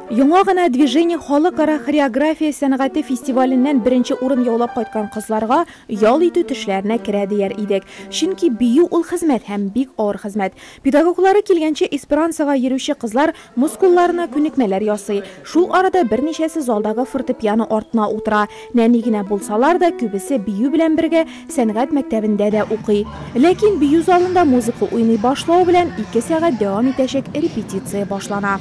Яңа гына Движение халыкара хореография сәнгате фестиваленнән беренче урын яулап кайткан кызларга ял итү төшләренә керә дияр идек. Чөнки бию ул хезмәт һәм бик авыр хезмәт. Педагоглары килгәнче эсперансога йөрүче кызлар мускулларына күнекмәләр ясый. Шул арада берничәсе залдагы фортепиано артына утыра. Нәни генә булсалар да, күбесе бию белән бергә сәнгать мәктәбендә дә укый. Ләкин бию залында музыка уйный башлау белән ике сәгать дәвам итәчәк репетиция башлана.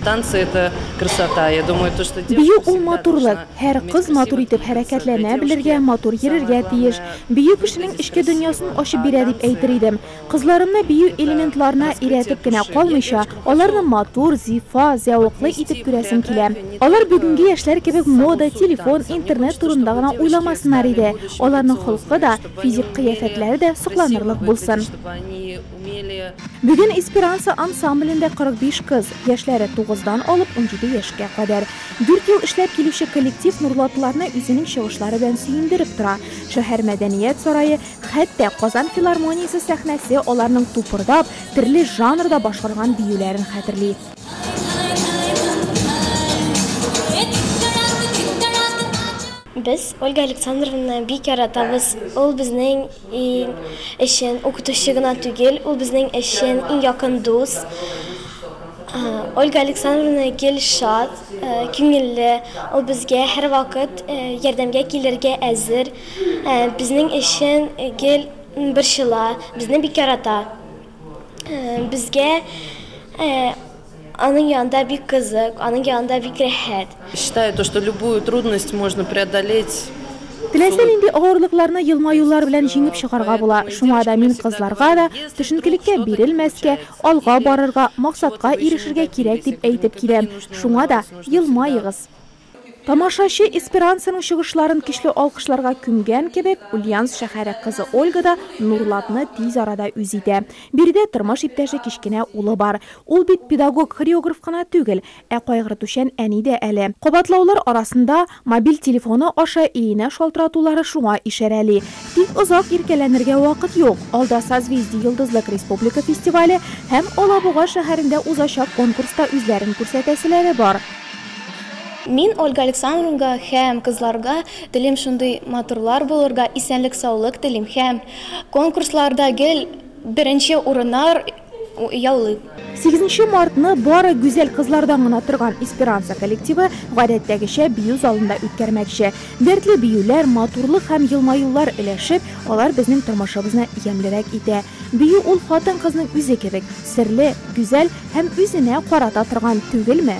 Танцы это красота, я думаю, то, что девушка Бию ул матурлык. Һәр кыз матур итеп хәрәкәтләнә белергә, матур йөрергә тиеш. Бию кешенең эчке дөньясын ачып бирә дип әйтер идем. Кызларымны бию элементларына өйрәтеп кенә калмыйча, аларны матур, зифа, зәвыклы итеп күрәсем килә. Алар бүгенге яшьләр кебек мода, телефон, интернет турында гына уйламасыннар иде, аларның холкы да, физик кыяфәтләре дә сокланырлык булсын. Бүген Эсперанса ансамблендә 45 кыз, яшьләре тугыздан алып унҗиде яшькә кадәр. Дүрт ел эшләп килүче коллектив нурлатыларны үзенең чыгышлары белән сөендереп тора. Шәһәр мәдәният сарае, Хәтта Казан филармониясе сәхнәсе аларның тупырдап, терле жанрда башкарган биюләрен хәтерли. Без Ольга Александровнаны бик яратабыз. Ул безнең өчен укытучы гына түгел, ул безнең өчен иң якын дус. Ольга Александровна гел шат, күңелле. Ул безгә һәрвакыт ярдәмгә килергә әзер. Безнең өчен гел борчыла, безне бик ярата. Безгә аның янында бик кызык, аның янында бик рәхәт. Считаю то, что любую трудность можно преодолеть. Теләсә нинди авырлыкларны елмаюлар белән җиңеп чыгарга була. Шуңа да мин кызларга да, төшенкелеккә бирелмәскә, алга барырга, максатка ирешергә кирәк дип әйтеп киләм. Шуңа да, елмаегыз! Тамашачы Эсперансаның чыгышларын көчле алкышларга күмгән кебек, Ульяновск шәһәре кызы Ольга да Нурлатны тиз арада үз итә. Биредә тормыш иптәше кечкенә улы бар. Ул бит педагог-хореограф кына түгел, ә кайгыртучан әни дә әле. Кабатлаулар арасында мобиль телефоны аша өенә шалтыратулары шуңа ишарәли. Тик озак иркәләнергә вакыт юк, алда Созвездие йолдызлык республика фестивале һәм Алабуга шәһәрендә узачак конкурста үзләрен күрсәтәселәре бар. Мин Ольга Александровнга һәм кызларга телим шундый матурлар булырга, исәнлек саулык телим һәм конкурсларда гел беренче урыннар яулыйк. Сигезенче мартны бары гүзәл кызлардан гына торган Эсперанса коллективы гадәттәгечә бию залында үткәрмәкче. Дәртле биюләр, матурлык һәм елмаюлар өләшеп, алар безнең тормышыбызны ямьлерәк итә. Бию ул хатын-кызның үзе кебек. Серле, гүзәл һәм үзенә карата торган түгелме?